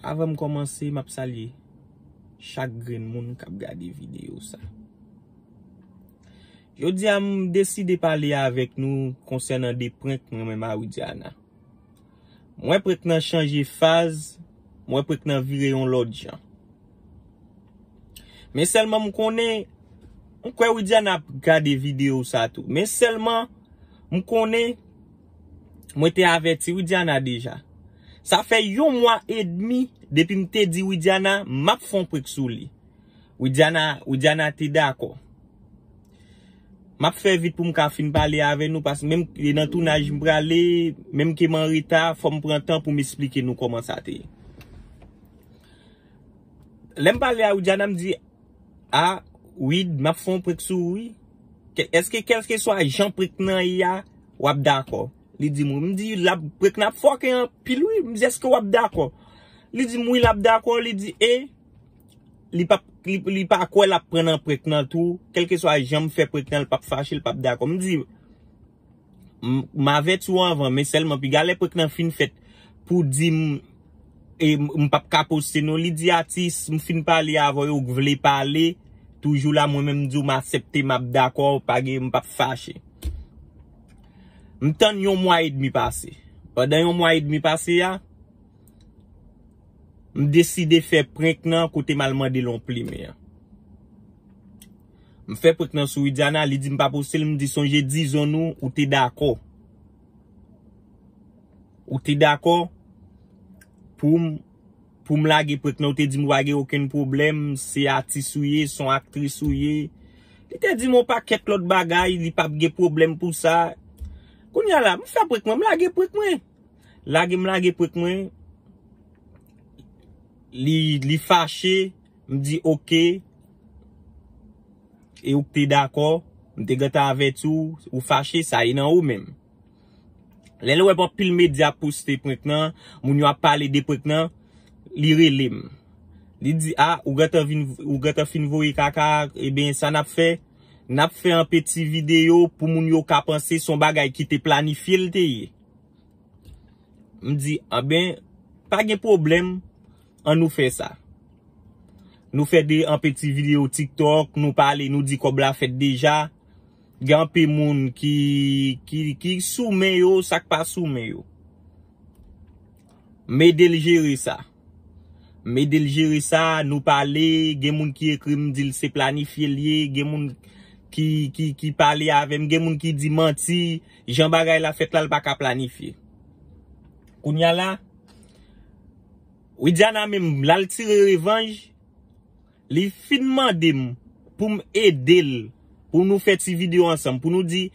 Avan m kòmanse, m ap salye chak grenn moun k ap gade videyo sa. Jodi a, m deside pale avèk nou konsènan de prenk mwen menm a Widiana. M wè prenk nan chanje faz, m wè prenk nan vire yon lòt jan. Men sèlman m konnen, m kwè Widiana ap gade videyo sa tou. Men sèlman m konnen. Mwen te avèti Widiana deja. Sa fè yon mwa edmi depi m te di Widiana m ap fè yon prank sou li. Widiana Widiana te dakò. M ap fè vit pou m ka fin pale avè nou paske menm e nan tounaj m prale, menm ke m anreta fò m pran tan pou m esplike nou kòman sa te ye. Lè m pale a Widiana m di, a Wid m ap fè yon prank sou ou wi. Eske kèlkeswa jan prank nan ye a. wap dakò. Li di m wi. M di l ap pre k n ap fòkè anpil wi. M di èske w ap dakò. Li di m wi l ap dakò. Li di e li pa kwè l ap pran nan pre k nan tou. Kèlkeswa jan m fè pre k nan li p ap fache li p ap dakò. M di l m avèti w anvan men sèlman piga lè pre k nan fin fèt pou w di m. E m pap ka poste non li di atis m fin pale avè yo ou k vle pale toujou la mwen menm m di w m asepte map dakò pa gen m pap fache. M tann yon mwa edmi pase pandan yon mwa edmi pase a m deside fè prenk nan kote m al mande l yon plimen an. M fè prenk nan sou Widiana li di m pa poste l m di sonje dizon nou ou te dakò. Ou te dakò poum poum lage prank nan ou te dim ou pa gen okenn pwoblèm se atis ou ye son aktris ou ye li te dim on pakèt lòt bagay li pap gen pwoblèm pou sa kounya la m fè prank mwen m lage prank mwen lage m lage prank mwen li li fache m di ok. e ou pte dakò, m te gentan avèti w, ou fache, sa ye nan ou menm. Lè l wè anpil medya ap poste prank nan, moun yo ap pale de prank nan, li rele m. Li di, a, ou gentan vin, ou gentan fin voye kaka a, eben sa n ap fè, n ap fè anpe ti videyo pou moun yo ka panse s on bagay ki te planifye l te ye. M di, anben, pa gen pwoblèm. an nou fè sa. Nou fè de anpe ti video tiktok, nou pale, nou di kob la fèt deja. Gen anpe moun ki sou men yo, sak pa sou men yo. Mede l jere sa. Mede l jere sa, nou pale, gen moun ki ekri m di l se planifye l ye, gen moun ki pale ave m, gen moun ki di manti, jan bagay la fèt la l pa ka planifye. Kounya la. Widiana menm lal tire revanj li fin mandem poum edel pou nou fè ti video ansanm pou nou di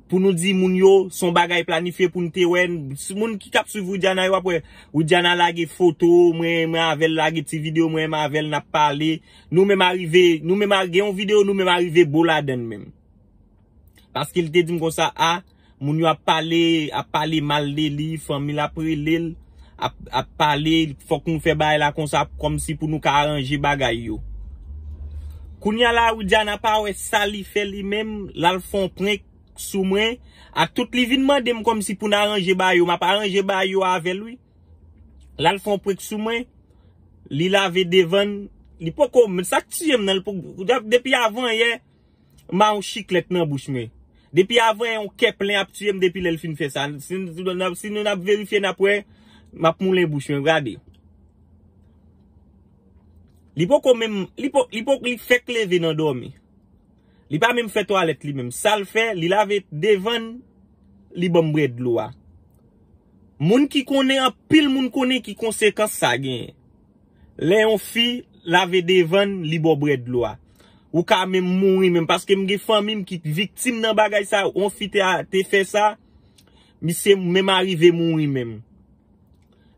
pou nou di moun yo son bagay planifye poun te wè moun ki tap swiv Widiana yo ap wè Widiana lage foto mwen avèl lage ti video mwen avèl nap pale nou menm arive nou menm gen yon video nou menm arive bo ladann menm paske li te dim konsa a. Moun yo ap pale, ap pale mal de li, fanmi l ap rele l, ap pale, fòk nou fè bagay la konsa kòm si pou nou ka aranje bagay yo. Kounye a la Widiana pa wè sa li fè li menm, l al fè yon prank sou mwen, ak tout li vin mande m kòm si pou n aranje bagay yo, m ap aranje bagay yo avè l wi. L al fè yon prank sou mwen, li lave devan l, li poko, sa k tiye m nan, depi avan yè. Ma yon chiklèt nan bouch mwen. Depi avan yon kè plen ap tiyem depi lèl fin fè sa. Si nou nap verifye nap wè map moulen bouch mwen gade. Li poko menm li poko li poko li fèk leve nan dòmi. Li pa menm fè twalèt li menm. Sal fè li lave devann li banm bwè dlo a. Moun ki konnen anpil moun konnen ki konsekans sa genyen. Lè yon fi lave devann li baw brè dlo a. Ou ka menm mouri menm paske m gen fanmim ki t viktim nan bagay sa yon fi te fè sa misye menm arive mouri menm.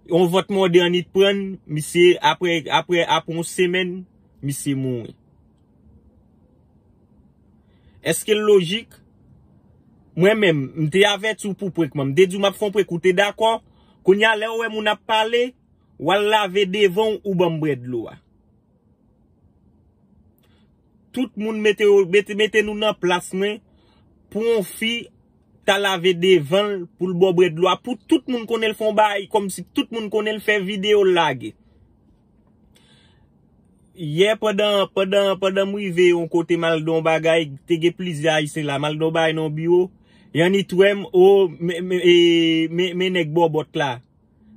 Yon vòt modern li t prann misye aprè aprè aprè yon semèn misye mouri. Eske l lojik? Mwen menm m te avèti w pou prank mwen m te diw map fè yon prank ou te dakò kounya lèw wè moun ap pale. Wal lave devanw ou banm bwè dlo a. Tout moun mete yo mete nou nan plas mwen pou yon fi ta lave devanl poul baw bwè dlo a pou tout moun konnenl fon bagay kòmsi tout moun konnenl fè video lage. Yè pandan pandan pandan m rive yon kote mal gade yon bagay te gen plizyè ayisyen la mal gade yon bagay nan yon biwo Yannit wèm oo men nèg bòbòt la.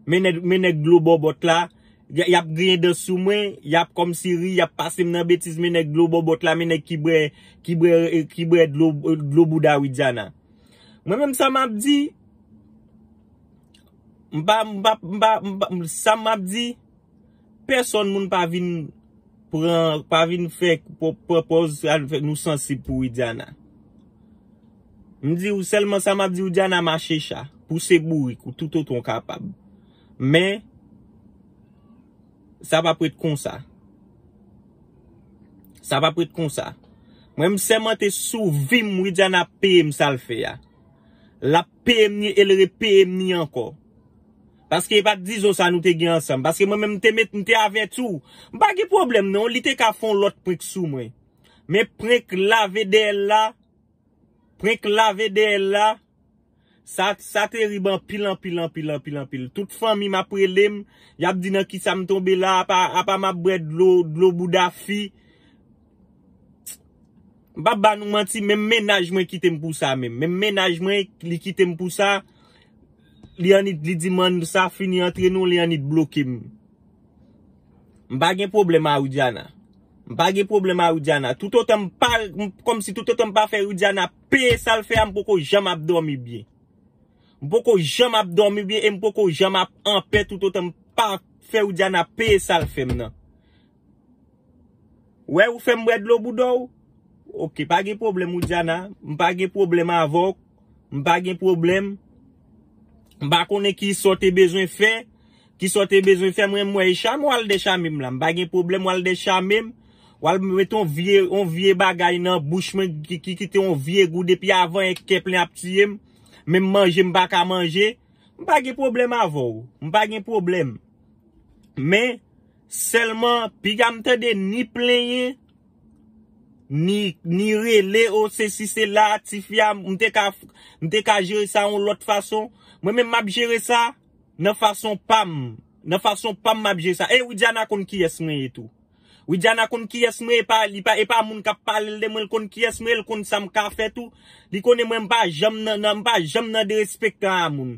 Men nèg dlo bòbòt la, y ap griyen dan sou mwen, y ap kòmsi ri, y ap pase m nan betiz men nèg dlo bòbòt la, men nèg ki bwè, ki bwè, ki bwè dlo, dlo bouda Widiana. Mwen menm sa m ap di, m pa, m pa, m pa, m pa, sa m ap di, pèsòn moun pa vin pran, pa vin fè, pran pòz nou sansib pou Widiana. M diw selman sa map diw Diana mache cha pou se bourik ou tout otan w kapab men sa pap ret konsa sa pap ret konsa mwen m sèmante sou vim Widiana ap peye m sal fè a lap peye m ni el re peye m ni ankò paske e pat dizon sa nou te gen ansanm paske mwen menm m te met m te avèti w m pa gen pwoblèm non li te ka fon lòt prenk sou mwen men prenk lave dèyèl la. Prenk lave deyel la sa terib anpil anpil anpil anpil anpil tout fanmim ap relem yap di nan kisam tonbe la apa map bwè dlo dlo bouda fi m pap ba nou manti menm mennaj mwen kitem pou sa menm menm mennaj mwen li kitem pou sa li annik li dim an sa fini antre nou li annik blokem. M pa gen pwoblèm a Widiana. M pa gen pwoblèm a Widiana. Toutotan m pa, kòmsi toutotan m pa fè Widiana peye sa l fè a, m poko janm ap dòmi byen. M poko janm ap dòmi byen e m poko janm ap anpè toutotan m pa fè Widiana peye sa l fè m nan. Wè, ou fè m bwè dlo bouda w? Ok, pa gen pwoblèm Widiana. M pa gen pwoblèm avè w. M pa gen pwoblèm. M pa konnen ki sa w te bezwen fè. Ki sa w te bezwen fè m renmen wè e chame w al dechame m la. M pa gen pwoblèm w al dechame m. W al mete yon vye yon vye bagay nan bouch mwen ki kite yon vye gou depi avan e kè plen ap tiye m. Menm manje m pa ka manje. M pa gen pwoblèm avè w. M pa gen pwoblèm. Men, Sèlman piga m tande ni plenyen ni rele oh sesi sela tifi a m te ka m te ka jere sa yon lòt fason mwen menm map jere sa nan fason pam nan fason pam map jere sa e widiana konn kiyès mwen ye tou widiana konn kiyès mwen ye epa li pa epa moun kap pale l de mwen l konn kiyès mwen ye l konn sa m ka fè tou li konnen mwen m pa janm nan m pa janm nan derespektan a moun.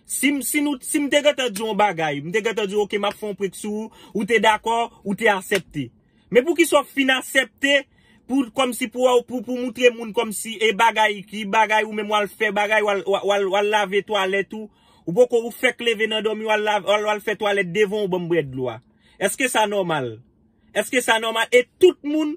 Si m si nou si m te gentan di w yon bagay, m te gentan di w ok m ap fè yon prank sou ou, ou te dakò, ou te asèpte. Men poukisa w fin asèpte pou kòmsi pou wè pou pou moutre moun kòmsi e bagay ki bagay ou menm w al fè bagay w al w al w al lave twalèt ou, ou poko ou fèk leve nan dòmi w al lave w al w al fè twalèt devan w ban m bwè dlo a. Èske sa nòmal? Eske sa nòmal e tout moun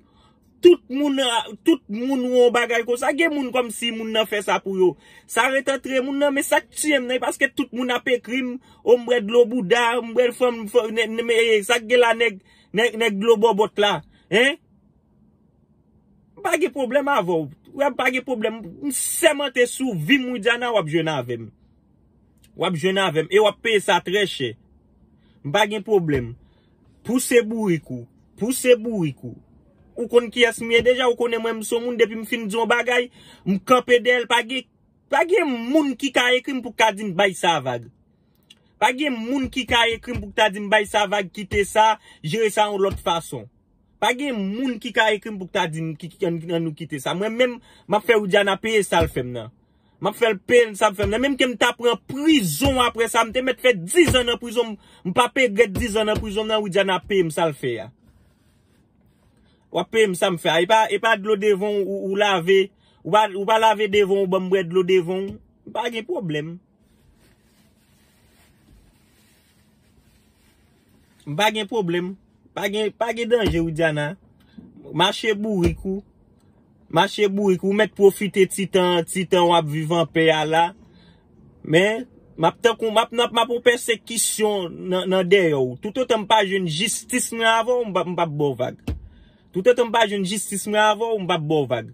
tout moun tout moun wè yon bagay konsa gen moun kòmsi moun nan fè sa pou yo sa ret antre moun nan men sak tiye m nan e paske tout moun ap ekri m ombre dlo bouda ombre fanm sak gen la nèg nèg dlo bòbòt la hein m pa gen pwoblèm avèw ou wè m pa gen pwoblèm m sèmante sou vi m widiana wap jwenn avèm Wap jwenn avèm e wap peye sa trè chè. M pa gen pwoblèm. Pouse bourik ou. Pouse bourik ou. Ou konn kiyès m ye deja, ou konnen mwen m son moun depi m fin di yon bagay, m kanpe dèyè l pa gen pa gen moun ki ka ekri m pou ka di m bay sa vag. Pa gen moun ki ka ekri m pou ta di m bay sa vag kite sa, jere sa yon lòt fason. Pa gen moun ki ka ekri m pou ta di m an nou kite sa. Mwen menm map fè Widiana peye sal fèm nan. Map fèl pn sa fèm la menm kem ta pran prizon aprè sa mte mèt fè 10 ans nan prizon mpa p egrèt 10 ans nan prizon nan widiana ap peyem sal fè a wap peyem sam fè a epa epa dlo devan ou lave ou pa lave devan ou banm bwè dlo devan ou mpa gen problèm. M pa gen pwoblèm. Pa gen, pa gen danje Widiana. Mache bourik ou. Mache bourik ou. Ou mèt pwofite ti tan, ti tan w ap viv anpè a la. Men, m ap tankou, m ap nan, m ap yon pèsekisyon nan dèyè w. Toutotan m pa jwenn jistis mwen avè w, m pa, m pa p ba w vag. Toutotan m pa jwenn jistis mwen avè w, m pa p ba w vag.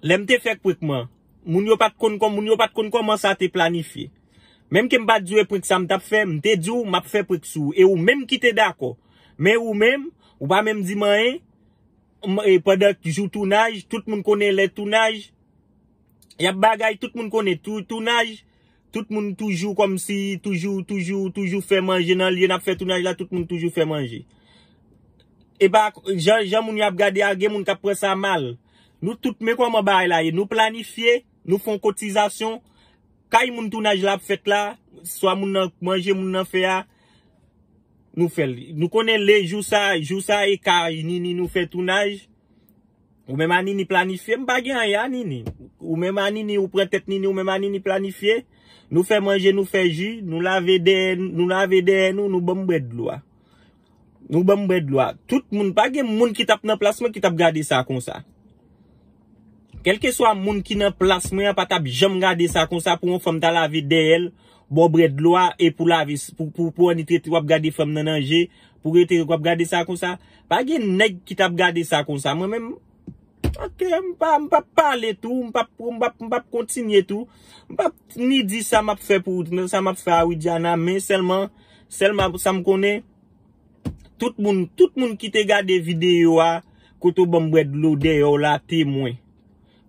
Lè m te fè kwik mwen, moun yo pa t konn kòman, moun yo pa t konn kòman sa te planifye. Menm ke m pa t di w e prenk sa m t ap fè, m te di w m ap fè prenk sou ou e ou menm ki te dakò. Men ou menm, ou pa menm di m anyen, m e pandan jou tounaj, tout moun konnen lè tounaj, y ap bagay, tout moun konnen tou tounaj, tout moun toujou kòm si toujou, toujou, toujou fè manje nan lye n ap fè tounaj la, tout moun toujou fè manje. E pa jan, jan moun yo ap gade a, gen moun k ap pran sa mal. Nou tout, men kòman bagay la ye, nou planifye, Nou fon kotizasyon, kay moun tounaj la ap fèt la, swa moun nan manje moun nan fè a, nou fè l. Nou konnen le jou sa, jou sa e ka Nini nou fè tounaj, ou menm a Nini planifye, m pa gen anyen a Nini. Ou menm a Nini, ou pran tèt Nini, ou menm a Nini planifye, nou fè manje, nou fè ji, nou lave dèyè nou, nou lave dèyè nou, nou banm bwè dlo a. Nou banm bwè dlo a. Tout moun, pa gen moun ki tap nan plas mwen ki tap gade sa konsa. Kelkeswa moun ki nan plas mwen an pa tap janm gade sa konsa pou yon fanm ta lave dèyè l, ba w bwè dlo a e pou lave, pou annik rete wap gade fanm nan nan je, pou rete wap gade sa konsa. Pa gen nèg ki tap gade sa konsa mwen menm. Ok, m pa m pap pale tou, m pap m pap m pap kontinye tou. M pap ni di sa map fè pou sa map fè a Widiana men sèlman sèlman sa m konnen tout moun tout moun ki te gade videyo a kote w ban m bwè dlo dèyè w la temwen.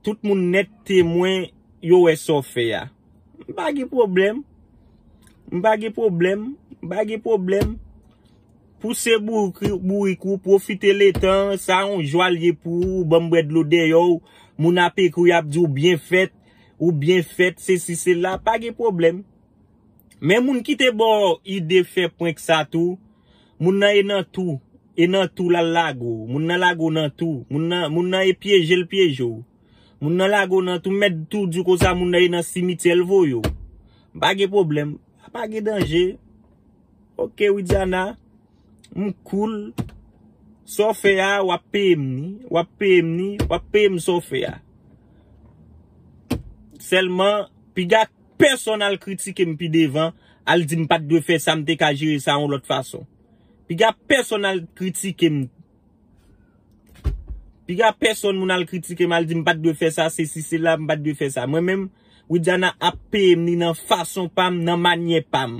Tout moun nèt temwen yo wè sa w fè a. M pa gen pwoblèm. M pa gen pwoblèm. M pa gen pwoblèm. Pouse bourik ou, pwofite letan an, sa yon jwa l ye pou ou, banm bwè dlo deyò w, moun ap ekri yap di w byen fèt, ou byen fèt, sesi sela, pa gen pwoblèm. Men moun ki te ba w ide fè prank sa tou, moun nan e nan tou, e nan tou lal lage w, moun nan lage w nan tou, moun nan e pyeje l pyeje w, moun nan lage w nan tou, m mèt tou di w konsa moun nan e nan simityè l voye w. Pa gen pwoblèm, pa gen danje. Ok widiana m cool sa w fè a wap peye m ni wap peye m ni wap peye m sa w fè a sèlman piga pèsòn al kritike m pi devan al di m pat dwe fè sa m te ka jere sa yon lòt fason piga pèsòn al kritike m. Piga pèsòn moun al kritikem al dim pat dwe fè sa sesi sela m pat dwe fè sa mwen menm widiana ap peyem li nan fason pam nan manyè pam.